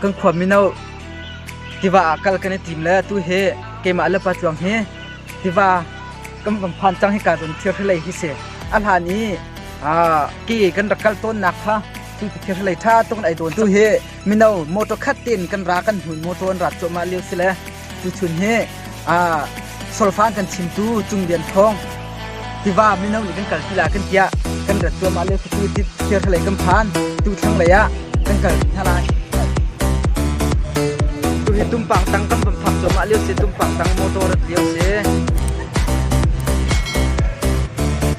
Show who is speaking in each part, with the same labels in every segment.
Speaker 1: kan khua mino tiva ah kal kan i tim le tu hi keimah le pa tluang hi tiva kam kan phan cang hi ka don thir hlei hi si a hlan i ke kan rak kal tawnnak kha hlei ṭha tuk in ei tawn tu hi mino motor khat tin kan ra kan hmun motor an rat cuahmah lio si le tu chun hi solfan kan chim tu cung bian thong tiva mino nih kan kal tila kan tia kan rat cuahmah lio tu ti thir hlei kan phan tu thlang lei ah kan kal hna lai tu hi tumpang tang kan pam phak cuahmah lio si tumpang tang motor rat lio si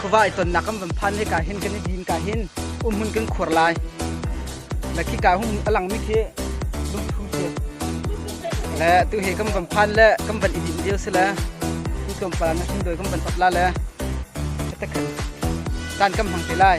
Speaker 1: Khuava i tonnak kan van phan hika hin kan i din ka hin umhun kan khur lai. Na khi ka hung a langmi khi lungthu si. Le tu he kan van phan le kan van i din dio si le tu tlawm pala na thin doi kan van tat la le ta kan kan kam hang te lai.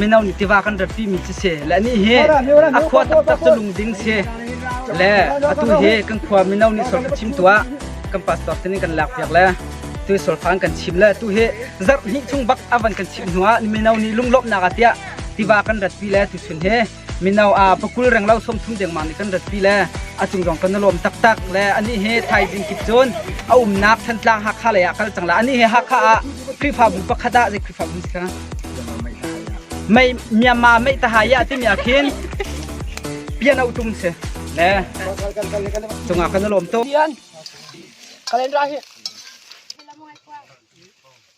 Speaker 1: mino nih tiva kan ratpimi cu si le nih hi a khua taktak cu lungding si le atu hi kan khua mino nih sol ka chim tuah kan pastor tin kan lak piak le tu solfang kan chim le tu hi zarh hnih chung bak avan kan chim hnuah mino nih lunglawmhnak atiah tiva kan ratpi le tu chun hi Mino ah pakul reng lo somsum dengmang nih kan ratpi le a cung zong kan i lawm taktak le anih hi thaizing kip cun a umnak Thantlang Hakha lei ah kal cang la anih hi Hakha ah Khrihfabu pakhat ah zei Khrihfabu si ka mei Myanmar mei tahai ah timi ah khin pian auh tum si le cungah kan i lawm tuk Kalendra hi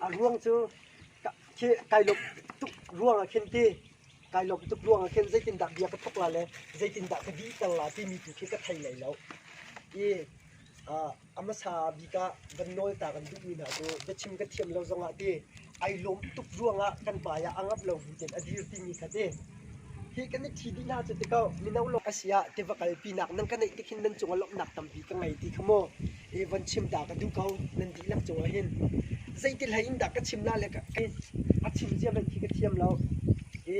Speaker 1: A ruang cu kai lawmh tuk ruang ah khin ti kai lawmh tuk ruang ah khin zeitindah bia ka thawk la le zeitindah ka dihter la timi tu khi ka thei lai lo. I A hmasa bik ah kan nawl ta kan duhmi hna cu biachim kan thiam lo zongah ti ai lawm tuk ruangah kan hmaiah a ngap lo bu tein a dir timi kha ti hi kan i thi dih hna cu ti ko mino lawmh a si ah tiva kalpinak nan ka neih tikhin nan cungah lawmhnak tampi ka ngei ti kha mu i von chim ta ka duh ko nan dihlak cungah hin zeitihlei in dah ka chim la le a chim zia hmanh khi ka thiam lo i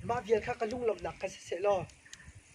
Speaker 1: mah vial kha ka lunglawmhnak ka si sehlaw